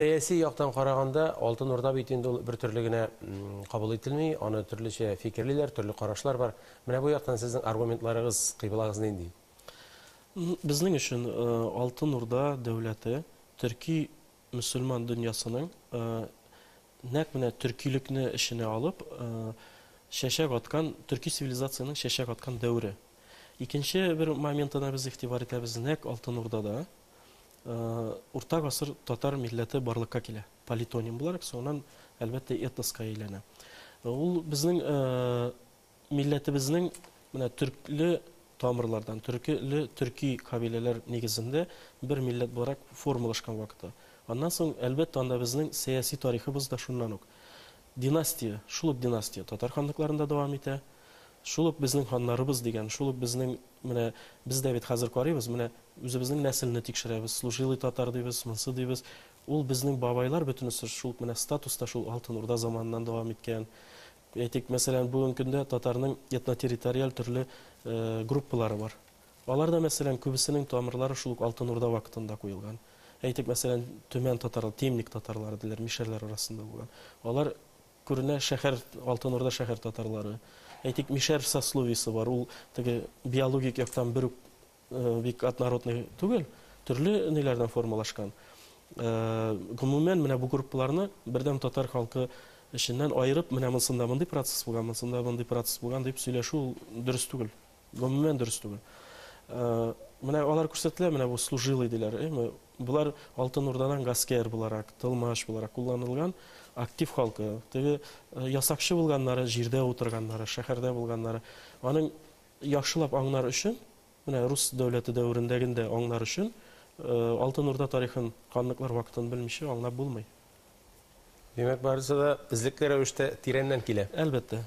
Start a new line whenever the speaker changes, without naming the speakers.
Сәяси яктан караганда, Алтын Урда бит инде ул бертөрле генә кабул ителми, аны төрлечә фикерлиләр, төрле карашлар бар. Менә бу яктан сезнең аргументларыгыз, кыйблагыз нинди? Безнең өчен Алтын Урда дәүләте төрки мөселман дөньясының нәкъ менә төркилекне эченә алып чәчәк аткан, төрки цивилизациянең чәчәк аткан дәвере. Икенче бер моментына без игътибар итәбез, нәкъ Алтын Урдада Урта гасыр татар милләте барлыкка килә, политоним буларак, соңыннан, әлбәттә, этноска әйләнә. Ул безнең милләтебезнең менә төркле тамырлардан, төркеле төрки кабиләләр нигезендә бер милләт буларак формалашкан вакыты. Аннан соң, әлбәттә, анда безнең сәяси тарихыбыз да шуннан ук. Династия, шул ук династия татар ханлыкларында дәвам итә. Шул ук безнең ханнарыбыз дигән, шул ук безнең, менә без дә бит хәзер карыйбыз, менә үзебезнең нәселне тикшерәбез, служилый татар дибез, монсы дибез. Ул безнең бабайлар бөтенесе шул ук менә статус та шул Алтын Урда заманыннан дәвам иткән. Әйтик, мәсәлән, бүгенге көндә татарның этнотерриториаль төрле группалары бар. Аларда, мәсәлән, күбесенең тамырлары шул ук Алтын Урда вакытында куелган. Әйтик, мәсәлән, Төмән татарлары, Темник татарлары диләр, мишәрләр арасында булган. Алар, күренә, шәһәр, Алтын Урда шәһәр татарлары. Әйтик, мишәр сословиесе бар, ул теге биологик яктан бер үк бик однородный түгел, төрле ниләрдән формалашкан. Гомумән, менә бу группаларны бердәм татар халкы эченнән аерып, менә монсында мондый процесс булган, монсында мондый процесс булган дип сөйләшү ул дөрес түгел. Гомумән дөрес түгел. Э, менә алар күрсәтелә, менә бу служилый диләр. Эме, булар Алтын Урдадан гаскәр буларак, тылмаш буларак кулланылган актив халкы. Теге э, ясакчы булганнары, җирдә утырганнары, шәһәрдә булганнары. Аның яхшылап аңнар өчен, менә рус дәүләте дәверендәгендә аңнар өчен э, Алтын Урда тарихын, канлыклар вакытын белмичә аңлап булмый. Димәк, барысы да эзлекле рәвештә тирәннән килә. Әлбәттә,